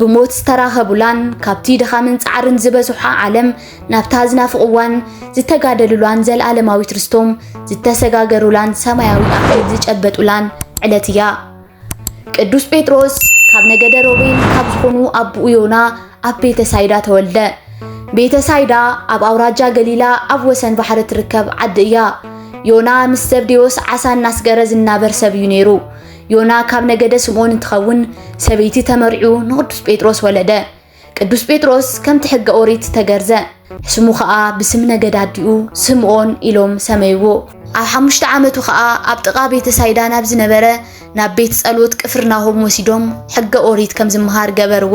ብሞት ዝተራኸቡላን ካብቲ ድኻምን ጻዕርን ዝበዝሖ ዓለም ናብታ ዝናፍቕዋን ዝተጋደሉላን ዘለኣለማዊት ርስቶም ዝተሰጋገሩላን ሰማያዊ ኣኽሊል ዝጨበጡላን ዕለት እያ። ቅዱስ ጴጥሮስ ካብ ነገደ ሮቤል ካብ ዝኾኑ ኣቦኡ ዮና ኣብ ቤተ ሳይዳ ተወልደ። ቤተ ሳይዳ ኣብ ኣውራጃ ገሊላ ኣብ ወሰን ባሕሪ ትርከብ ዓዲ እያ። ዮና ምስ ዘብዴዎስ ዓሳ እናስገረ ዝናበር ሰብ እዩ ነይሩ። ዮና ካብ ነገደ ስምዖን እንትኸውን ሰበይቲ ተመርዕዩ ንቅዱስ ጴጥሮስ ወለደ። ቅዱስ ጴጥሮስ ከምቲ ሕገ ኦሪት ተገርዘ። ስሙ ኸኣ ብስም ነገድ ኣዲኡ ስምዖን ኢሎም ሰመይዎ። ኣብ ሓሙሽተ ዓመቱ ኸኣ ኣብ ጥቓ ቤተ ሳይዳ ናብ ዝነበረ ናብ ቤት ጸሎት ቅፍርናሆም ወሲዶም ሕገ ኦሪት ከም ዝመሃር ገበርዎ።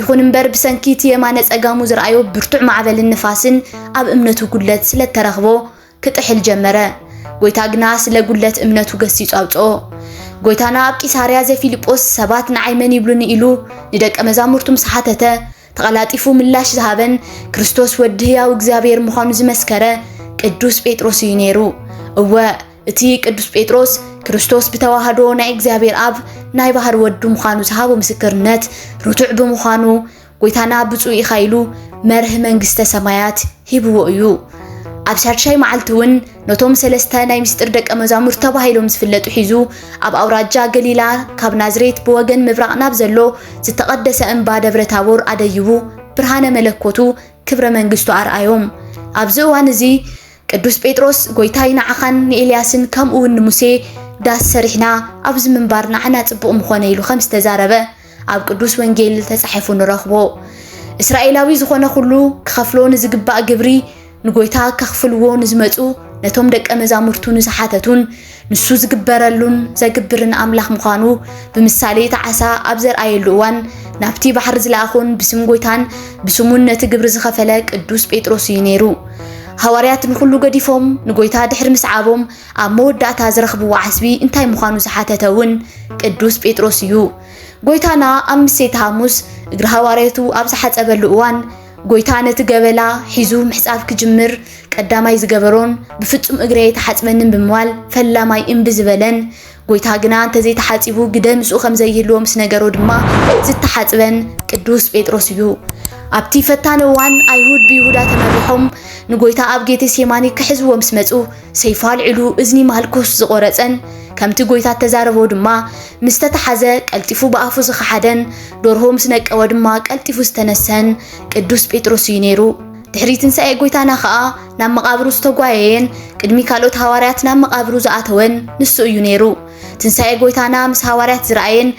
ይኹን እምበር ብሰንኪ እቲ የማነ ጸጋሙ ዝርኣዮ ብርቱዕ ማዕበልን ንፋስን ኣብ እምነቱ ጉድለት ስለ እተረኽቦ ክጥሕል ጀመረ። ጎይታ ግና ስለ ጉድለት እምነቱ ገሲጹ ኣውጽኦ። ጎይታና ኣብ ቂሳርያ ዘፊልጶስ ሰባት ንዓይ መን ይብሉኒ ኢሉ ንደቀ መዛሙርቱ ምስ ሓተተ ተቐላጢፉ ምላሽ ዝሃበን ክርስቶስ ወዲ ህያው እግዚኣብሔር ምዃኑ ዝመስከረ ቅዱስ ጴጥሮስ እዩ ነይሩ። እወ እቲ ቅዱስ ጴጥሮስ ክርስቶስ ብተዋህዶ ናይ እግዚኣብሔር ኣብ ናይ ባህር ወዱ ምዃኑ ዝሃቦ ምስክርነት ርቱዕ ብምዃኑ ጎይታና ብፁዕ ኢኻ ኢሉ መርህ መንግስተ ሰማያት ሂብዎ እዩ። ኣብ ሻድሻይ መዓልቲ እውን ነቶም ሰለስተ ናይ ምስጢር ደቀ መዛሙር ተባሂሎም ዝፍለጡ ሒዙ ኣብ ኣውራጃ ገሊላ ካብ ናዝሬት ብወገን ምብራቕ ናብ ዘሎ ዝተቐደሰ እምባ ደብረ ታቦር ኣደይቡ ብርሃነ መለኮቱ ክብረ መንግስቱ ኣርኣዮም። ኣብዚ እዋን እዚ ቅዱስ ጴጥሮስ ጎይታይ ንዓኻን ንኤልያስን ከምኡውን ንሙሴ ዳስ ሰሪሕና ኣብዚ ምንባር ንዓና ጽቡቕ ምኾነ ኢሉ ከም ዝተዛረበ ኣብ ቅዱስ ወንጌል ተጻሒፉ ንረኽቦ። እስራኤላዊ ዝኾነ ኩሉ ክኸፍሎ ንዝግባእ ግብሪ ንጎይታ ከኽፍልዎ ንዝመጹ ነቶም ደቀ መዛሙርቱ ንዝሓተቱን ንሱ ዝግበረሉን ዘግብርን ኣምላኽ ምዃኑ ብምሳሌ እቲ ዓሳ ኣብ ዘርኣየሉ እዋን ናብቲ ባሕሪ ዝለኣኹን ብስም ጎይታን ብስሙን ነቲ ግብሪ ዝኸፈለ ቅዱስ ጴጥሮስ እዩ ነይሩ። ሃዋርያት ንኹሉ ገዲፎም ንጎይታ ድሕሪ ምስዓቦም ኣብ መወዳእታ ዝረኽብዎ ዓስቢ እንታይ ምዃኑ ዝሓተተ እውን ቅዱስ ጴጥሮስ እዩ። ጎይታና ኣብ ምሴተ ሃሙስ እግሪ ሃዋርያቱ ኣብ ዝሓጸበሉ እዋን ጎይታ ነቲ ገበላ ሒዙ ምሕጻብ ክጅምር ቀዳማይ ዝገበሮን ብፍጹም እግረይ ኣይተሓጽበንን ብምባል ፈላማይ እምቢ ዝበለን ጎይታ ግና እንተዘይተሓጺቡ ግደ ምስኡ ከም ዘይህልዎ ምስ ነገሮ ድማ ዝተሓጽበን ቅዱስ ጴጥሮስ እዩ። ኣብቲ ፈታኒ እዋን ኣይሁድ ብይሁዳ ተመሪሖም ንጎይታ ኣብ ጌቴሴማኒ ክሕዝዎ ምስ መጹ ሰይፉ ኣልዒሉ እዝኒ ማልኩስ ዝቖረጸን ከምቲ ጎይታ እተዛረቦ ድማ ምስ ተታሓዘ ቀልጢፉ ብኣፉ ዝኸሓደን ዶርሆ ምስ ነቀወ ድማ ቀልጢፉ ዝተነሰሀን ቅዱስ ጴጥሮስ እዩ ነይሩ። ድሕሪ ትንሳኤ ጎይታና ኸኣ ናብ መቓብሩ ዝተጓየየን ቅድሚ ካልኦት ሃዋርያት ናብ መቓብሩ ዝኣተወን ንሱ እዩ ነይሩ። ትንሳኤ ጎይታና ምስ ሃዋርያት ዝረኣየን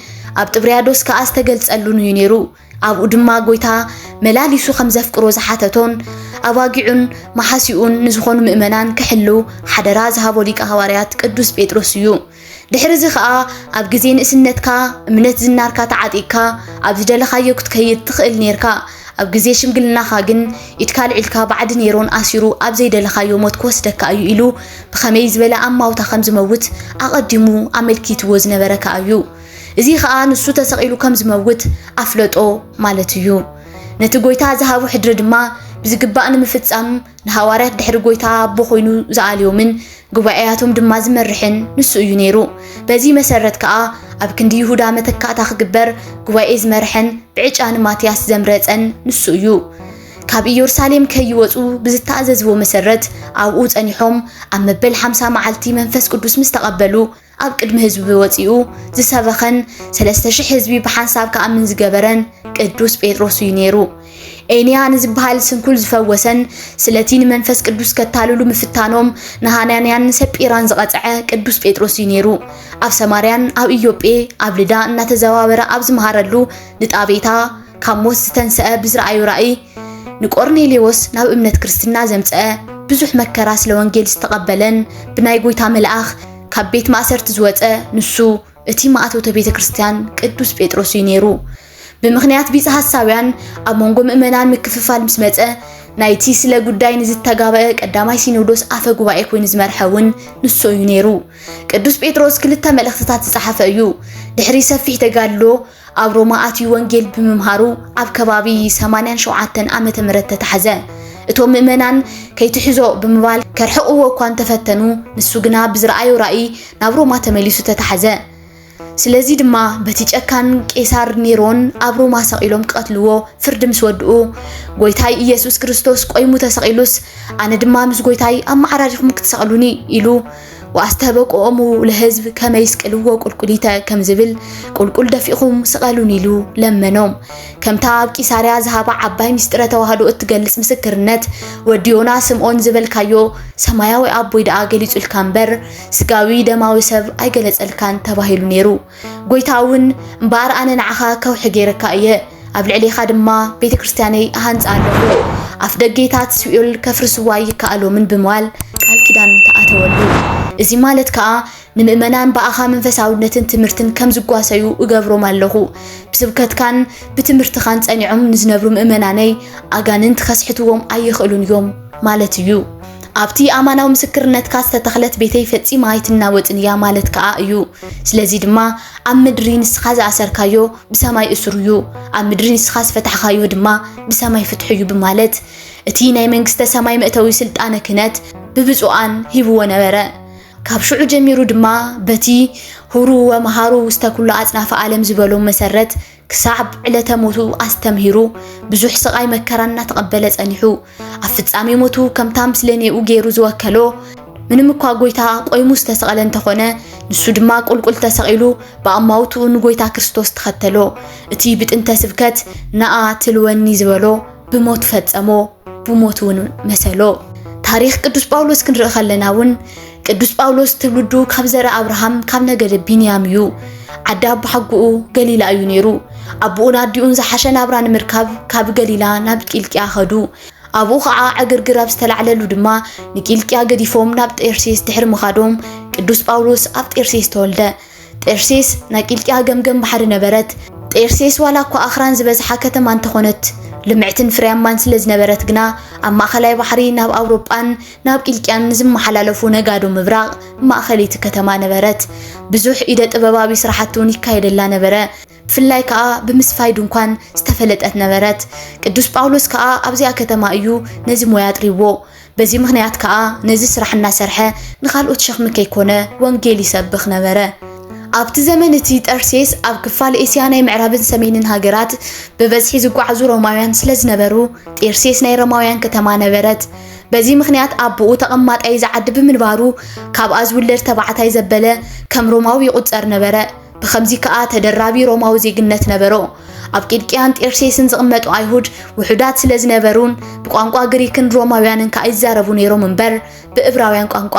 ኣብ ጥብርያዶስ ከኣ ዝተገልጸሉን እዩ ነይሩ። ኣብኡ ድማ ጎይታ መላሊሱ ከም ዘፍቅሮ ዝሓተቶን ኣባጊዑን መሓሲኡን ንዝኾኑ ምእመናን ክሕልው ሓደራ ዝሃቦ ሊቀ ሃዋርያት ቅዱስ ጴጥሮስ እዩ። ድሕሪ እዚ ኸኣ ኣብ ግዜ ንእስነትካ እምነት ዝናርካ ተዓጢቅካ ኣብ ዝደለኻዮ ክትከይድ ትኽእል ኔርካ ኣብ ግዜ ሽምግልናኻ ግን ኢድካ ኣልዒልካ ባዕዲ ኔሮን ኣሲሩ ኣብ ዘይደለኻዮ ሞት ክወስደካ እዩ ኢሉ ብኸመይ ዝበለ ኣማውታ ከም ዝመውት ኣቐዲሙ ኣመልኪትዎ ዝነበረ ከኣ እዩ። እዚ ኸኣ ንሱ ተሰቒሉ ከም ዝመውት ኣፍለጦ ማለት እዩ። ነቲ ጐይታ ዝሃቦ ሕድሪ ድማ ብዝግባእ ንምፍጻም ንሃዋርያት ድሕሪ ጐይታ ኣቦ ዀይኑ ዝኣልዮምን ጉባኤያቶም ድማ ዝመርሕን ንሱ እዩ ነይሩ። በዚ መሰረት ከኣ ኣብ ክንዲ ይሁዳ መተካእታ ክግበር ጉባኤ ዝመርሐን ብዕጫ ንማትያስ ዘምረጸን ንሱ እዩ። ካብ ኢየሩሳሌም ከይወጹ ብዝተኣዘዝዎ መሰረት ኣብኡ ጸኒሖም ኣብ መበል ሓምሳ መዓልቲ መንፈስ ቅዱስ ምስ ተቐበሉ ኣብ ቅድሚ ህዝቢ ወጺኡ ዝሰበኸን ሰለስተ ሽሕ ህዝቢ ብሓንሳብ ክኣምን ዝገበረን ቅዱስ ጴጥሮስ እዩ ነይሩ። ኤንያ ንዝበሃል ስንኩል ዝፈወሰን ስለቲ ንመንፈስ ቅዱስ ከታልሉ ምፍታኖም ንሃናንያን ንሰጲራን ዝቐጽዐ ቅዱስ ጴጥሮስ እዩ ነይሩ። ኣብ ሰማርያን ኣብ ኢዮጴ ኣብ ልዳ እናተዘዋወረ ኣብ ዝመሃረሉ ንጣቤታ ካብ ሞት ዝተንሰአ ብዝረኣዩ ራእይ ንቆርኔሌዎስ ናብ እምነት ክርስትና ዘምፀአ ብዙሕ መከራ ስለ ወንጌል ዝተቐበለን ብናይ ጎይታ መልኣኽ ካብ ቤት ማእሰርቲ ዝወፀ ንሱ እቲ ማእቶተ ቤተ ክርስቲያን ቅዱስ ጴጥሮስ እዩ ነይሩ። ብምኽንያት ቢጽ ሐሳውያን ኣብ መንጎ ምእመናን ምክፍፋል ምስ መጸ ናይቲ ስለ ጉዳይ ንዝተጋበአ ቀዳማይ ሲኖዶስ ኣፈ ጉባኤ ኮይኑ ዝመርሐ እውን ንሱ እዩ ነይሩ። ቅዱስ ጴጥሮስ ክልተ መልእኽትታት ዝጸሓፈ እዩ። ድሕሪ ሰፊሕ ተጋድሎ ኣብ ሮማ ኣትዩ ወንጌል ብምምሃሩ ኣብ ከባቢ 87 ዓመተ ምህረት ተታሕዘ። እቶም ምእመናን ከይትሕዞ ብምባል ከርሕቕዎ እኳ እንተፈተኑ ንሱ ግና ብዝረኣዮ ራእይ ናብ ሮማ ተመሊሱ ተታሕዘ። ስለዚ ድማ በቲ ጨካን ቄሳር ኔሮን ኣብ ሮማ ሰቒሎም ክቐትልዎ ፍርዲ ምስ ወድኡ ጎይታይ ኢየሱስ ክርስቶስ ቆይሙ ተሰቒሉስ ኣነ ድማ ምስ ጎይታይ ኣመዓራሪኹም ክትሰቕሉኒ ኢሉ ወኣስተበቅዖሙ ለሕዝብ ከመ ይስቅልዎ ቍልቍሊተ ከም ዝብል ቍልቍል ደፊእኹም ስቐሉኒ ኢሉ ለመኖም። ከምታ ኣብ ቂሳርያ ዝሃባ ዓባይ ምስጢረ ተዋህዶ እትገልጽ ምስክርነት ወዲ ዮና ስምዖን ዝበልካዮ ሰማያዊ ኣቦይ ደኣ ገሊጹልካ እምበር ስጋዊ ደማዊ ሰብ ኣይገለጸልካን ተባሂሉ ነይሩ። ጐይታ እውን፣ እምበኣር ኣነ ንዓኻ ከውሒ ገይረካ እየ፣ ኣብ ልዕሌኻ ድማ ቤተ ክርስቲያነይ እሃንጽ ኣለኹ፣ ኣፍደጌታት ሲኦል ከፍርስዎ ኣይከኣሎምን ብምባል ቃል ኪዳን ተኣተወሉ። እዚ ማለት ከኣ ንምእመናን ብኣኻ መንፈሳውነትን ትምህርትን ከም ዝጓሰዩ እገብሮም ኣለኹ፣ ብስብከትካን ብትምህርትኻን ጸኒዖም ንዝነብሩ ምእመናነይ ኣጋንንት ከስሕትዎም ኣይኽእሉን እዮም ማለት እዩ። ኣብቲ ኣማናዊ ምስክርነትካ ዝተተኽለት ቤተይ ፈጺማ ኣይትናወጽን እያ ማለት ከኣ እዩ። ስለዚ ድማ ኣብ ምድሪ ንስኻ ዝኣሰርካዮ ብሰማይ እሱር እዩ፣ ኣብ ምድሪ ንስኻ ዝፈታሕካዮ ድማ ብሰማይ ፍትሑ እዩ ብማለት እቲ ናይ መንግስተ ሰማይ መእተዊ ስልጣነ ክህነት ብብፁዓን ሂብዎ ነበረ። ካብ ሽዑ ጀሚሩ ድማ በቲ ሁሩ ወመሃሩ ውስተ ኩሉ ኣጽናፈ ዓለም ዝበሎም መሰረት ክሳብ ዕለተ ሞቱ ኣስተምሂሩ ብዙሕ ስቓይ መከራ እናተቐበለ ጸኒሑ ኣብ ፍጻሜ ሞቱ ከምታ ምስለኔኡ ገይሩ ዝወከሎ ምንም እኳ ጎይታ ቆይሙ ዝተሰቐለ እንተኾነ ንሱ ድማ ቁልቁል ተሰቒሉ ብኣማውትኡ ንጎይታ ክርስቶስ ተኸተሎ እቲ ብጥንተ ስብከት ነኣ ትልወኒ ዝበሎ ብሞት ፈጸሞ ብሞት እውን መሰሎ ታሪኽ ቅዱስ ጳውሎስ ክንርኢ ከለና እውን ቅዱስ ጳውሎስ ትውልዱ ካብ ዘርኢ ኣብርሃም ካብ ነገደ ቢንያም እዩ። ዓዲ ኣቦሓጎኡ ገሊላ እዩ ነይሩ። ኣቦኡን ኣዲኡን ዝሓሸ ናብራ ንምርካብ ካብ ገሊላ ናብ ቂልቅያ ኸዱ። ኣብኡ ኸዓ ዕግርግር ኣብ ዝተላዕለሉ ድማ ንቂልቅያ ገዲፎም ናብ ጤርሴስ ድሕሪ ምኻዶም ቅዱስ ጳውሎስ ኣብ ጤርሴስ ተወልደ። ጤርሴስ ናይ ቂልጥያ ገምገም ባሕሪ ነበረት። ጤርሴስ ዋላ እኳ ኣኽራን ዝበዝሓ ከተማ እንተኾነት፣ ልምዕትን ፍርያማን ስለ ዝነበረት ግና ኣብ ማእኸላይ ባሕሪ ናብ ኣውሮጳን ናብ ቂልጥያን ንዝመሓላለፉ ነጋዶ ምብራቕ ማእኸልይቲ ከተማ ነበረት። ብዙሕ ኢደ ጥበባዊ ስራሕቲ እውን ይካየደላ ነበረ። ብፍላይ ከኣ ብምስፋይ ድንኳን ዝተፈለጠት ነበረት። ቅዱስ ጳውሎስ ከኣ ኣብዚኣ ከተማ እዩ ነዚ ሞያ ኣጥሪዎ። በዚ ምኽንያት ከኣ ነዚ ስራሕ እናሰርሐ ንኻልኦት ሸኽሚ ከይኮነ ወንጌል ይሰብኽ ነበረ። ኣብቲ ዘመን እቲ ጠርሴስ ኣብ ክፋል ኤስያ ናይ ምዕራብን ሰሜንን ሃገራት ብበዝሒ ዝጓዓዙ ሮማውያን ስለ ዝነበሩ ጤርሴስ ናይ ሮማውያን ከተማ ነበረት። በዚ ምኽንያት ኣቦኡ ተቐማጣይ እዚ ዓዲ ብምንባሩ ካብኣ ዝውለድ ተባዕታይ ዘበለ ከም ሮማዊ ይቑጸር ነበረ። ብኸምዚ ከኣ ተደራቢ ሮማዊ ዜግነት ነበሮ። ኣብ ቂልቅያን ጤርሴስን ዝቕመጡ ኣይሁድ ውሑዳት ስለ ዝነበሩን ብቋንቋ ግሪክን ሮማውያንን ከኣ ይዛረቡ ነይሮም እምበር ብእብራውያን ቋንቋ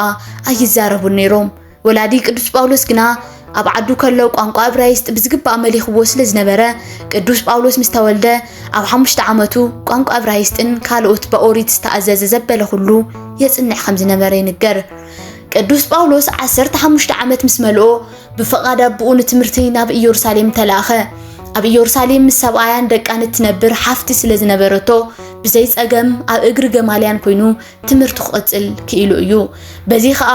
ኣይዛረቡን ነይሮም። ወላዲ ቅዱስ ጳውሎስ ግና ኣብ ዓዱ ከሎ ቋንቋ እብራይስጥ ብዝግባእ መሊኽዎ ስለ ዝነበረ ቅዱስ ጳውሎስ ምስ ተወልደ ኣብ ሓሙሽተ ዓመቱ ቋንቋ እብራይስጥን ካልኦት ብኦሪት ዝተኣዘዘ ዘበለ ኩሉ የጽንዕ ከም ዝነበረ ይንገር። ቅዱስ ጳውሎስ ዓሰርተ ሓሙሽተ ዓመት ምስ መልኦ ብፍቓድ ኣቦኡ ንትምህርቲ ናብ ኢየሩሳሌም ተላእኸ። ኣብ ኢየሩሳሌም ምስ ሰብኣያን ደቃን እትነብር ሓፍቲ ስለ ዝነበረቶ ብዘይ ጸገም ኣብ እግሪ ገማልያን ኮይኑ ትምህርቱ ክቕጽል ክኢሉ እዩ። በዚ ኸኣ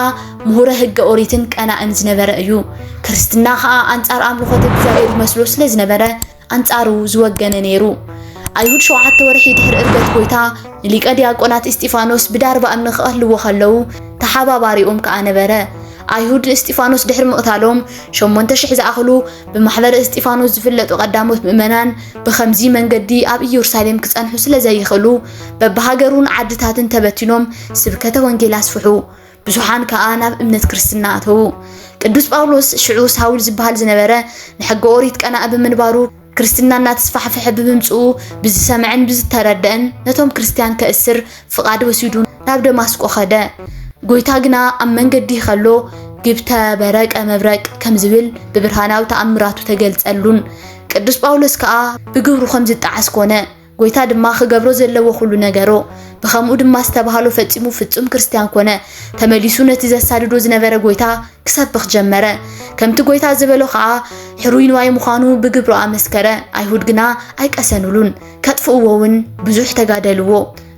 ምሁረ ሕገ ኦሪትን ቀናእን ዝነበረ እዩ። ክርስትና ኸኣ ኣንጻር ኣምልኾተ እግዚኣብሔር ይመስሎ ስለ ዝነበረ ኣንጻሩ ዝወገነ ነይሩ። ኣይሁድ ሸውዓተ ወርሒ ድሕሪ እርገት ጎይታ ንሊቀ ዲያቆናት እስጢፋኖስ ብዳርባ እምኒ ክቐትልዎ ከለዉ ተሓባባሪኦም ከኣ ነበረ። ኣይሁድ ንእስጢፋኖስ ድሕሪ ምቕታሎም ሸሞንተ ሽሕ ዝኣኽሉ ብማሕበረ እስጢፋኖስ ዝፍለጡ ቀዳሞት ምእመናን ብኸምዚ መንገዲ ኣብ ኢየሩሳሌም ክጸንሑ ስለ ዘይኽእሉ በብሃገሩን ዓድታትን ተበቲኖም ስብከተ ወንጌል ኣስፍሑ። ብዙሓን ከኣ ናብ እምነት ክርስትና ኣተዉ። ቅዱስ ጳውሎስ ሽዑ ሳውል ዝበሃል ዝነበረ ንሕገ ኦሪት ቀናእ ብምንባሩ ክርስትና እናተስፋሕፈሐ ብምምጽኡ ብዝሰምዐን ብዝተረደእን ነቶም ክርስትያን ከእስር ፍቓድ ወሲዱ ናብ ደማስቆ ኸደ። ጎይታ ግና ኣብ መንገዲ ኸሎ ግብተ በረቀ መብረቅ ከም ዝብል ብብርሃናዊ ተኣምራቱ ተገልጸሉን ቅዱስ ጳውሎስ ከኣ ብግብሩ ከም ዝጠዓስ ኮነ። ጐይታ ድማ ኺገብሮ ዘለዎ ዅሉ ነገሮ። ብኸምኡ ድማ ዝተባህሎ ፈጺሙ ፍጹም ክርስትያን ኰነ። ተመሊሱ ነቲ ዘሳድዶ ዝነበረ ጐይታ ኪሰብኽ ጀመረ። ከምቲ ጐይታ ዝበሎ ኸኣ ሕሩይ ንዋይ ምዃኑ ብግብሩ ኣመስከረ። ኣይሁድ ግና ኣይቀሰኑሉን፣ ከጥፍእዎውን ብዙሕ ተጋደልዎ።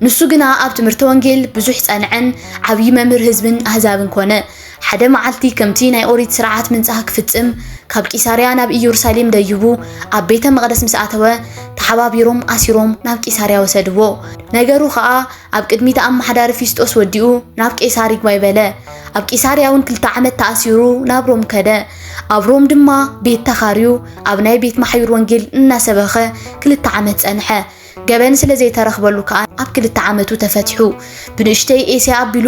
ንሱ ግና ኣብ ትምህርተ ወንጌል ብዙሕ ጸንዐን ዓብዪ መምህር ህዝብን ኣህዛብን ኰነ። ሓደ መዓልቲ ከምቲ ናይ ኦሪት ስርዓት ምንጻህ ክፍጽም ካብ ቂሳርያ ናብ ኢየሩሳሌም ደዩቡ ኣብ ቤተ መቕደስ ምስ ኣተወ ተሓባቢሮም ኣሲሮም ናብ ቂሳርያ ወሰድዎ። ነገሩ ኸኣ ኣብ ቅድሚ እቲ ኣመሓዳሪ ፊስጦስ ወዲኡ ናብ ቄሳር ይግባይ በለ። ኣብ ቂሳርያ እውን ክልተ ዓመት ተኣሲሩ ናብ ሮም ከደ። ኣብ ሮም ድማ ቤት ተኻርዩ ኣብ ናይ ቤት ማሕዩር ወንጌል እናሰበኸ ክልተ ዓመት ጸንሐ። ገበን ስለ ዘይተረኽበሉ ከኣ ኣብ ክልተ ዓመቱ ተፈቲሑ ብንእሽተይ ኤስያ ኣቢሉ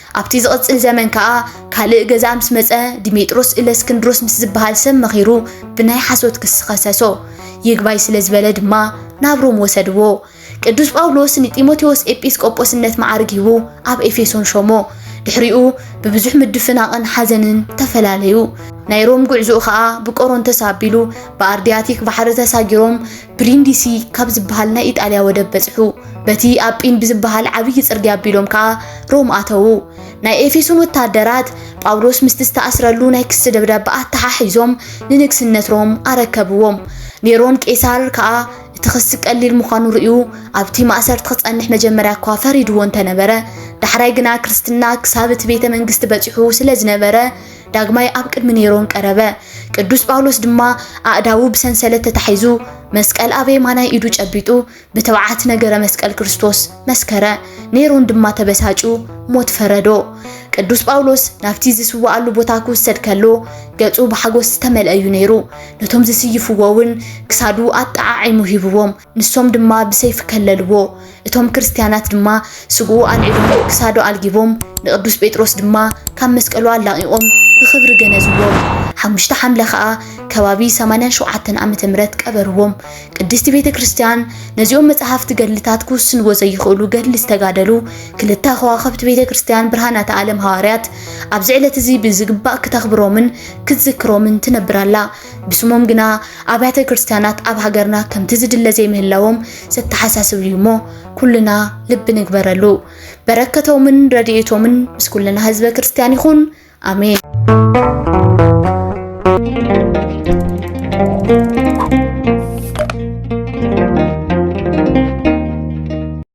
ኣብቲ ዝቕጽል ዘመን ከኣ ካልእ ገዛእ ምስ መጸ ዲሜጥሮስ እለስክንድሮስ ምስ ዝበሃል ሰብ መኺሩ ብናይ ሓሶት ክሲ ኸሰሶ። ይግባይ ስለ ዝበለ ድማ ናብ ሮም ወሰድዎ። ቅዱስ ጳውሎስ ንጢሞቴዎስ ኤጲስቆጶስነት መዓርግ ሂቡ ኣብ ኤፌሶን ሾሞ። ድሕሪኡ ብብዙሕ ምድፍናቕን ሓዘንን ተፈላለዩ። ናይ ሮም ጉዕዞኡ ከኣ ብቆሮንቶስ ኣቢሉ ብኣርድያቲክ ባሕሪ ተሳጊሮም ብሪንዲሲ ካብ ዝበሃል ናይ ኢጣልያ ወደብ በጽሑ። በቲ ኣጲን ብዝበሃል ዓብዪ ጽርግያ ኣቢሎም ከኣ ሮም ኣተዉ። ናይ ኤፌሶን ወተሃደራት ጳውሎስ ምስቲ ዝተኣስረሉ ናይ ክሲ ደብዳበ ኣተሓሒዞም ንንግስነት ሮም ኣረከብዎም። ኔሮን ቄሳር ከኣ እቲ ክሲ ቀሊል ምዃኑ ርእዩ ኣብቲ ማእሰርቲ ክጸንሕ መጀመርያ እኳ ፈሪድዎ እንተነበረ ዳሕራይ ግና ክርስትና ክሳብ እቲ ቤተ መንግስቲ በጺሑ ስለ ዝነበረ ዳግማይ ኣብ ቅድሚ ኔሮን ቀረበ። ቅዱስ ጳውሎስ ድማ ኣእዳዉ ብሰንሰለት ተታሒዙ መስቀል ኣብ የማናይ ኢዱ ጨቢጡ ብትብዓት ነገረ መስቀል ክርስቶስ መስከረ። ኔሮን ድማ ተበሳጩ ሞት ፈረዶ። ቅዱስ ጳውሎስ ናብቲ ዝስዋኣሉ ቦታ ክውሰድ ከሎ ገጹ ብሓጎስ ዝተመልአ እዩ ነይሩ። ነቶም ዝስይፍዎ እውን ክሳዱ ኣጠዓዒሙ ሂብዎም። ንሶም ድማ ብሰይፊ ከለልዎ፣ እቶም ክርስትያናት ድማ ስግኡ ኣልዒሎም ክሳዱ ኣልጊቦም፣ ንቅዱስ ጴጥሮስ ድማ ካብ መስቀሉ ኣላቒቖም ብኽብሪ ገነዝዎም። ሓሙሽተ ሓምለ ከኣ ከባቢ ሰማንያን ሸውዓተን ዓመተ ምህረት ቀበርዎም። ቅድስቲ ቤተ ክርስትያን ነዚኦም መጻሕፍቲ ገድልታት ክውስንዎ ዘይኽእሉ ገድሊ ዝተጋደሉ ክልተ ከዋኽብቲ ቤተ ክርስትያን ብርሃናተ ዓለም ሃዋርያት ኣብዚ ዕለት'ዚ ብዝግባእ ክተኽብሮምን ክትዝክሮምን ትነብር ኣላ። ብስሞም ግና ኣብያተ ክርስቲያናት ኣብ ሃገርና ከምቲ ዝድለ ዘይምህላዎም ዘተሓሳስብ እዩ እሞ ኩልና ልቢ ንግበረሉ። በረከቶምን ረድኤቶምን ምስ ኩልና ህዝበ ክርስቲያን ይኹን። ኣሜን።